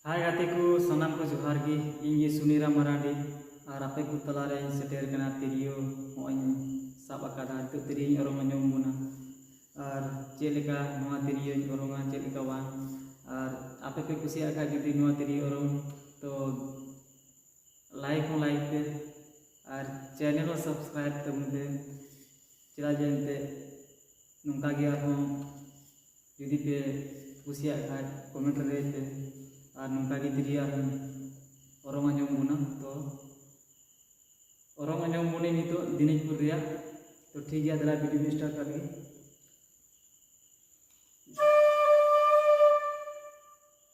ᱦᱟᱭ ᱜᱟᱛᱮ ᱠᱚ ᱥᱟᱱᱟᱢ ᱠᱚ ᱡᱚᱦᱟᱨ ᱜᱮ ᱤᱧ ᱜᱮ ᱥᱩᱱᱤᱨᱟ ᱢᱟᱨᱟᱱᱰᱤ ᱟᱨ ᱟᱯᱮ ᱠᱚ ᱛᱟᱞᱟ ᱨᱮᱧ ᱥᱮᱴᱮᱨ ᱠᱟᱱᱟ ᱛᱤᱨᱭᱳ ᱱᱚᱜᱼᱚᱭ ᱥᱟᱵ ᱟᱠᱟᱫᱟ ᱱᱤᱛᱚᱜ ᱛᱤᱨᱭᱳᱧ ᱚᱨᱚᱝ ᱟᱸᱡᱚᱢ ᱟᱵᱚᱱᱟ ᱟᱨ ᱪᱮᱫ ᱞᱮᱠᱟ ᱱᱚᱣᱟ ᱛᱤᱨᱭᱳᱧ ᱚᱨᱚᱝᱟ ᱪᱮᱫ ᱞᱮᱠᱟ ᱵᱟᱝ ᱟᱨ ᱟᱯᱮ ᱯᱮ ᱠᱩᱥᱤᱭᱟᱜ ᱠᱷᱟᱱ ᱡᱩᱫᱤ ᱱᱚᱣᱟ ᱛᱤᱨᱭᱳ ᱚᱨᱚᱝ ᱛᱚ ᱞᱟᱭᱤᱠ ᱦᱚᱸ ᱞᱟᱭᱤᱠ ᱯᱮ ᱟᱨ ᱪᱮᱱᱮᱞ ᱦᱚᱸ ᱥᱟᱵᱥᱠᱨᱟᱭᱤᱵ ᱛᱟᱵᱚᱱ ᱯᱮ ᱪᱮᱫᱟᱜ ᱡᱮ ᱮᱱᱛᱮᱫ ᱱᱚᱝᱠᱟ ᱜᱮ ᱟᱨᱦᱚᱸ ᱡᱩᱫᱤ ᱯᱮ ᱠᱩᱥᱤᱭᱟᱜ ᱠᱷᱟᱡ ᱠᱚᱢᱮᱱᱴ ᱨᱮ ᱞᱟᱹᱭ ᱯᱮ ᱟᱨ ᱱᱚᱝᱠᱟ ᱜᱮ ᱡᱩᱫᱤ ᱟᱨ ᱚᱨᱚᱝ ᱟᱸᱡᱚᱢ ᱵᱚᱱᱟ ᱛᱚ ᱚᱨᱚᱝ ᱟᱸᱡᱚᱢ ᱵᱚᱱᱤ ᱱᱤᱛᱚᱜ ᱫᱤᱱᱟᱡᱽᱯᱩᱨ ᱨᱮᱭᱟᱜ ᱛᱚ ᱴᱷᱤᱠ ᱜᱮᱭᱟ ᱫᱮᱞᱟ ᱵᱷᱤᱰᱤᱭᱳ ᱥᱴᱟᱨᱴ ᱠᱟᱜ ᱞᱟᱹᱜᱤᱫ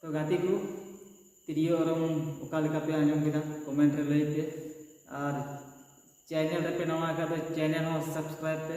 ᱛᱚ ᱜᱟᱛᱮ ᱠᱚ ᱛᱤᱨᱭᱳ ᱚᱨᱚᱝ ᱚᱠᱟ ᱞᱮᱠᱟ ᱯᱮ ᱟᱸᱡᱚᱢ ᱠᱮᱫᱟ ᱠᱚᱢᱮᱱᱴ ᱨᱮ ᱞᱟᱹᱭ ᱯᱮ ᱟᱨ ᱪᱮᱱᱮᱞ ᱨᱮᱯᱮ ᱱᱟᱣᱟ ᱟᱠᱟᱫ ᱫᱚ ᱪᱮᱱᱮᱞ ᱦᱚᱸ ᱥᱟᱵᱥᱠᱨᱟᱭᱤᱵ ᱯᱮ